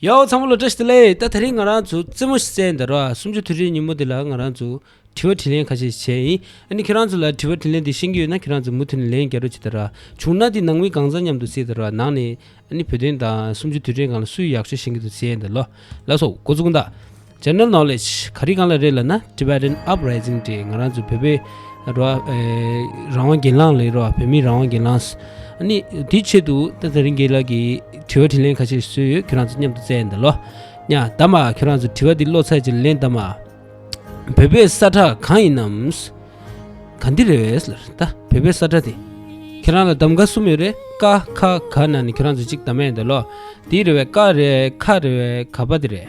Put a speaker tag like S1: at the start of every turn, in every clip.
S1: ཡའོ་ཚང་བོ་ལ་བཀྲ་ཤིས་བདེ་ལེགས་ད་ད་རིང་ང་རང་ཚོ་རྩེད་མོ་བསད་འདི་རོ་སུམ་ཅུ་དུས་དྲན་ཉིན་མོ་འདི་ལ་ང་རང་ཚོ་དྲི་བ་དྲིས་ལན་ཁ་ཤས་བྱས་ཡིན་ཨ་ནི་ཁྱེད་རང་ཚོ་ལ་དྲི་བ་དྲིས་ལན་འདི་ཤེས་ཀྱི་ཡོད་ན་ཁྱེད་རང་ཚོ་མུ་མཐུད་ནས་ལན་རྒྱ་རོ་བྱེད་ད་ར་བྱུང་ན་འདི་ནང་མི་གང་ཚང་མཉམ་དུ་བསད་ད་ར་ནང་ནས་ཨ་ནི་བོད་དོན་དང་སུམ་ཅུ་དུས་དྲན་གང་ལ་སུས་ཡག་ཤོས་བྱེད་ཀྱི་འདུག་བྱས་འདི་ལོ་ལགས་སོ་སྒོ་ཙུག་འདག། General Knowledge ག་རེ་གང་ལ་རེད་ལ་ན Tibetan Uprising དེ་ང་རང་ཚོ་བོད་པའི་རང་དབང་གྱེན་ལངས་ལས་རོགས་བོད་མིའི་རང་དབང་གྱེན་ལངས་ནི་དེའི་ཆེད་དུ་ད་ཚ་རིང་རྒྱས་ལགས་ཀྱི་དྲི་བ་དྲིས་ལན་ཁ་ཤས་བཟོས་ཡོད་ཁྱོད་རང་ཚོ་མཉམ་དུ་བཙལ་འདི་ལོ་ཉ་ད་མ་ཁྱོད་རང་ཚོ་དྲི་བ་འདི་བློ་ཚད་ཅིག་ལེན་ད་མ་བོད་པའི་ས་ཁྲག་གང་ཡིན་ནམ་ག་འདི་རེད་བས་ལ་རེད་ད་བོད་པའི་ས་ཁྲག་དེ་ཁྱོད་རང་ལ་གདམ་ག་གསུམ་ཡོད་རེད་ཀ་ཁ་ག་ན་ནི་ཁྱོད་རང་ཚོ་ཅིག་ད་མ་ཡིན་འདི་ལོ་དེའི་རེ་བས་ཀ་རེད་ཁ་རེད་བས་ག་པ་དེ་རེད་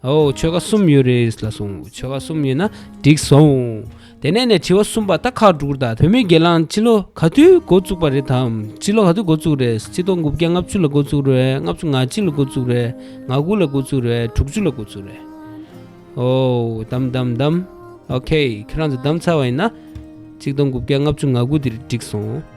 S1: ཨོ་ཆོལ་ཁ་གསུམ་ཡོད་རེད་ལ་གསུང་ཆོལ་ཁ་གསུམ་ཡོད་ན་འགྲིག་སོང། དེ་ནས་ནས་དྲི་བ་གསུམ་པ་ད་ཁག་དྲུག་རེད་ད་བོད་མི་སྒེར་ལངས་སྤྱི་ལོ་ག་དུས་འགོ་བཙུགས་པ་རེད་དམ་སྤྱི་ལོ་ག་དུས་འགོ་བཙུགས་རེད་སྤྱི་ལྡོག་དགུ་བརྒྱ་ལྔ་བཅུ་ལ་འགོ་བཙུགས་རེད་ལྔ་བཅུ་ང་གཅིག་ལ་འགོ་བཙུགས་རེད་ང་དགུ་ལ་འགོ་བཙུགས་རེད་དྲུག་ཅུ་ལ་འགོ་བཙུགས་རེད་ཨོ་གདམ་གདམ་གདམ་ཨོ་ཁེ་ཁྱེད་རང་ཚོ་གདམ་ཚར་བ་ཡིན་ན་སྤྱི་ལྡོག་དགུ་བརྒྱ་ལྔ་བཅུ་ང་དགུ་འདིར་འགྲིག་སོང།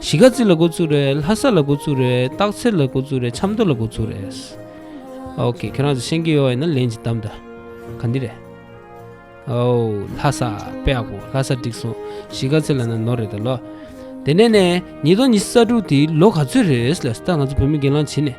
S1: གཞིས་ཀ་རྩེ་ལ་འགོ་བཙུགས་རེད་ལྷ་ས་ལ་འགོ་བཙུགས་རེད་སྟག་འཚེར་ལ་འགོ་བཙུགས་རེད་ཆབ་མདོ་ལ་འགོ་བཙུགས་རེད་ཨོ་ཁེ་ཁྱེད་རང་ཚོ་ཤེས་ཀྱི་ཡོད་ཡིན་ན་ལན་གཅིག་གདམས་དང་ག་འདི་རེད་ཨོ་ལྷ་ས་པེ་ཨ་གོ་ལྷ་ས་འགྲིག་སོང་གཞིས་ཀ་རྩེ་ལ་ན་ནོར་རེད་ད་ལོ་དེ་ནས་ནས་ཉིས་སྟོང་ཉི་ས་དྲུག་དེའི་ལོ་ག་ཚོད་རེད་ལ་ད་ང་ཚོ་བོད་མི་སྒེར་ལངས་བྱེད་ནས་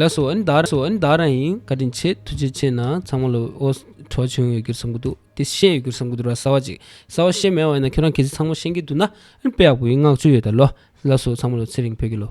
S1: ལགས་སོ་ཨན་དར་སོ་ཨན་དར་ཨིན་བཀའ་དྲིན་ཆེ་ཐུགས་རྗེ་ཆེ་ན་ཚང་མ་ལོ་ཨོ་གྲོགས་ཆུང་ཡོད་གྱུར་བསམ་གྱི་འདུག་དེ་ཤེས་ཡོད་གྱུར་བསམ་གྱི་འདུག་ར་གསལ་བ་ཅིག་གསལ་བ་ཤེས་མེད་བ་ཡིན་ན་ཁྱོད་རང་གི་ཚེ་ཚང་མ་ཤེས་ཀྱི་འདུག་ན་ཨན་དཔེ་ཡག་པོ་ཡིན་བསྔགས་བརྗོད་ཡོད་ད་ལོ་ལགས་སོ་ཚང་མ་ལོ་ཚེ་རིང་བོད་ཀྱི་ལོ།